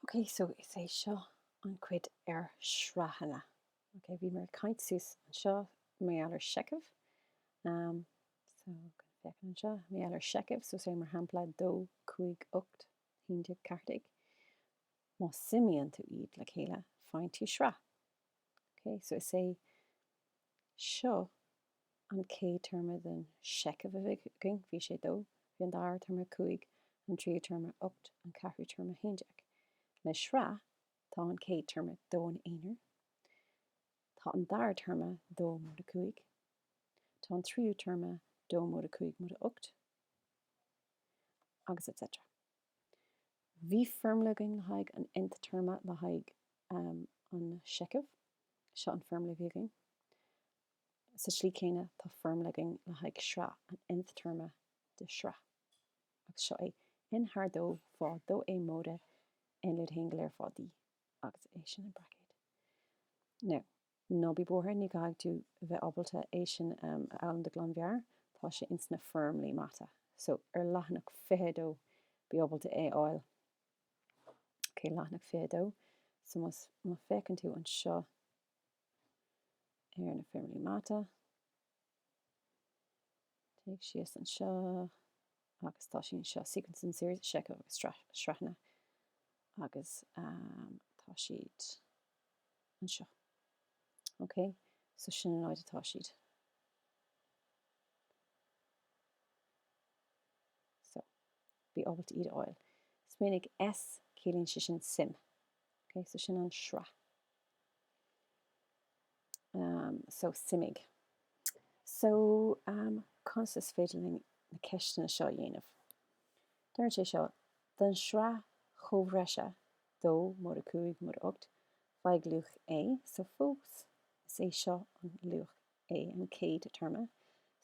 Ok, so is é seo an chuid ar shraitheanna. Ok, bhí mé ag caint suas anseo mar gheall ar seicheamh. Um, so, gan féachaint anseo, mar gheall ar seicheamh, so say mar shampla 2, 5, 8, 11, 14. Má suimíonn tú iad le chéile, faigheann tú sraith. Ok, so is é. Seo an chéad téarma den seicheamh a bhí againn, bhí sé dó, bhí an dara téarma cúig, an tríú téarma ocht, an ceathrú téarma haon déag. Le sraith, tá an céad téarma dó ina aonar, tá an dara téarma dó móide cúig, tá an tríú téarma dó móide cúig móide ocht, agus etc. Bhí foirmle againn le haghaidh an nth téarma le haghaidh an seicheamh. Seo an foirmle a bhí againn. Sa slí céanna tá foirmle againn le haghaidh sraith an nth téarma de shraith. Agus seo é, N thar dó fá dó A móide N lúide a haon go léir fá D. Agus é sin i mbraicéid. Now. Ná bí buartha, ní chaithfidh tú bheith ábalta é sin a fhoghlaim de ghlanmheabhair, tá sé ins na foirmlí mata. So, ar leathanach 22, bí ábalta é a fháil. Ok, leathanach 22. So, má féachann tú anseo ar na foirmlí mata. Téigh síos anseo agus tá siad anseo, Sequence and Series, Seicheamh agus Sraitheanna, agus tá siad anseo. Ok, so sin an áit atá siad. So, bí ábalta iad a fháil. Smaoinigh, S, ciallaíonn sé sin suim. Ok, so sin an sraith. Um, so, suimigh. So, um, conas is féidir linn na ceisteanna seo a dhéanamh? Deireann sé seo, Don shraith chomhthreise, dó móide cúig móide ocht, faigh luach A. So, fós, is é seo an luach A, an chéad téarma.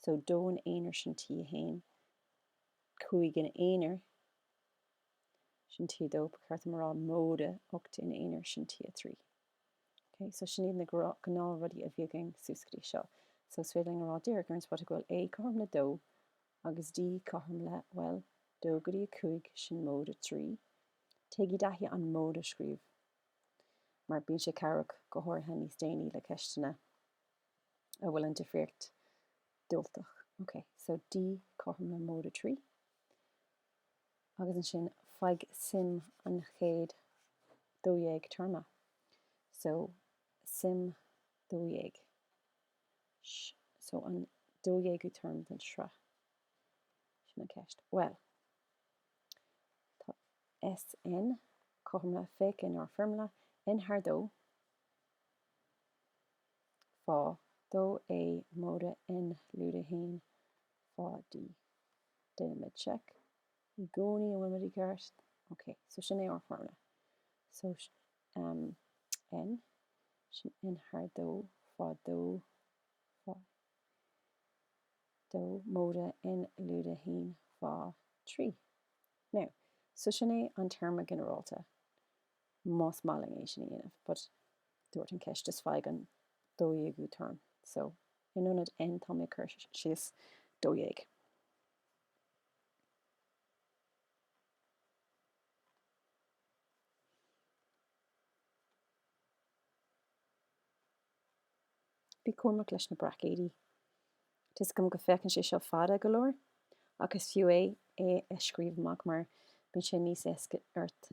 So, dó ina aonar sin T1, cúig ina aonar, sin T2, ba cheart dom a rá móide ocht ina aonar, sin T3. Ok, so sin iad na gnáth rudaí a bhí againn suas go dtí seo. So is féidir linn a rá díreach ar an spota go bhfuil A cothrom le 2 agus D cothrom le, bhuel, 2 go dtí 5, sin móide 3. Téigí i dtaithí an móide a scríobh mar bíonn sé cabhrach go háirithe níos déanaí le ceisteanna a bhfuil an difríocht diúltach. Ok, so D cothrom le móide 3. agus ansin faigh suim an chéad 12 téarma. So, suim 12. Sh, so an 12ú téarma den sraith. Sin an ceist. Bhuel, tá SN, cothrom le, féach in ár foirmle, N thar dó fá dó A móide N lúide a haon fá D. Déanaimid check i gcónaí an bhfuilimid i gceart. Ok, so sin é ár foirmle. So SN, sin N thar dó fá dó fá dó móide N lúide a haon fá trí. Now, so sin é an téarma ginearálta. más maith linn é sin a dhéanamh, but dúirt an ceist is faigh an 12ú téarma, so in ionad N tá mé ag cur síos 12. Bí cúramach leis na braicéidí. Tá a fhios agam go féachann sé seo fada go leor, ach is fiú é é a scríobh amach mar bíonn sé níos éasca ort